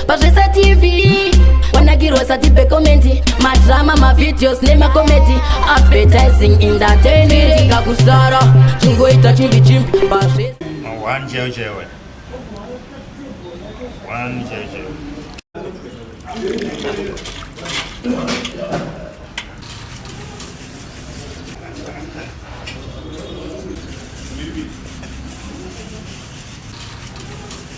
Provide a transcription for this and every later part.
pazvesa tv wanakirwa sati pekomenti madrama mavideos nemakomedi advertising in the tenenga kusara chingoita chimbi chimbi pazvesa One jail jail. One jail jail.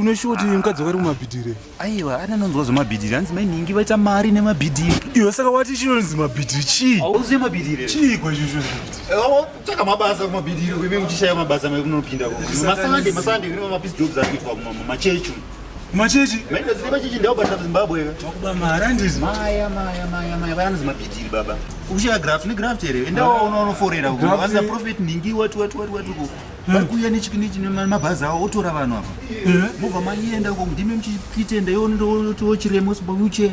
uneshuwa kuti mukadzi wari kumabhidhire aiwa ana anonzwa zvemabhidhiri hanzi mainhingi vaita mari nemabhidhiri iwe saka wati chinonzi mabhidhiri chii auzive mabhidhiri chiiko izvozvo tsvaka mabasa kumabhidhiri uime muchishaya mabasa mekunopinda masande masande kune mapisi jobs ari kuitwa machechi Machechi. Maita zile machechi ndao bata Zimbabwe. Wakuba mara ndizi. Maya maya maya maya vana zima pitiri baba. Uchiya graft ni graft here. Enda wa uno uno forera uko. Wanza profit ndingi watu watu watu watu uko. Hmm. Bari kuya ni chikini chine mabaza awo otora vanhu apa. Hmm. Mova manyi enda uko ndime mchipite enda yono ndo chiremo sibo uche.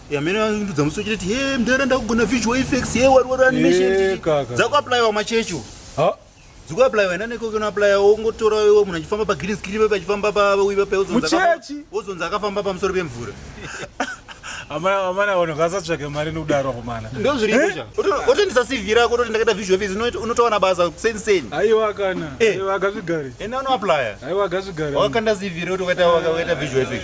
yamene vandudza musi vachitoti he mdara ndakugona visual effects he wari wari animation eh, dzakuaplayiwa machecho dzikuaplayiwa ina neko kunoaplaya wongotora iwo munhu achifamba pagreen screen pepe achifamba pawiva pawozonzi akafamba pamusoro pemvura amana vanhu ngasatsvake mari nokudaro komana ndozviriotendisa eh? cv rako ototi ndakaita visual fees unotowana basa senseni aiwa kana eh. aiwa gazvigari enda unoaplaya aiwa gazvigari wakakanda cv roti wakaita visual fees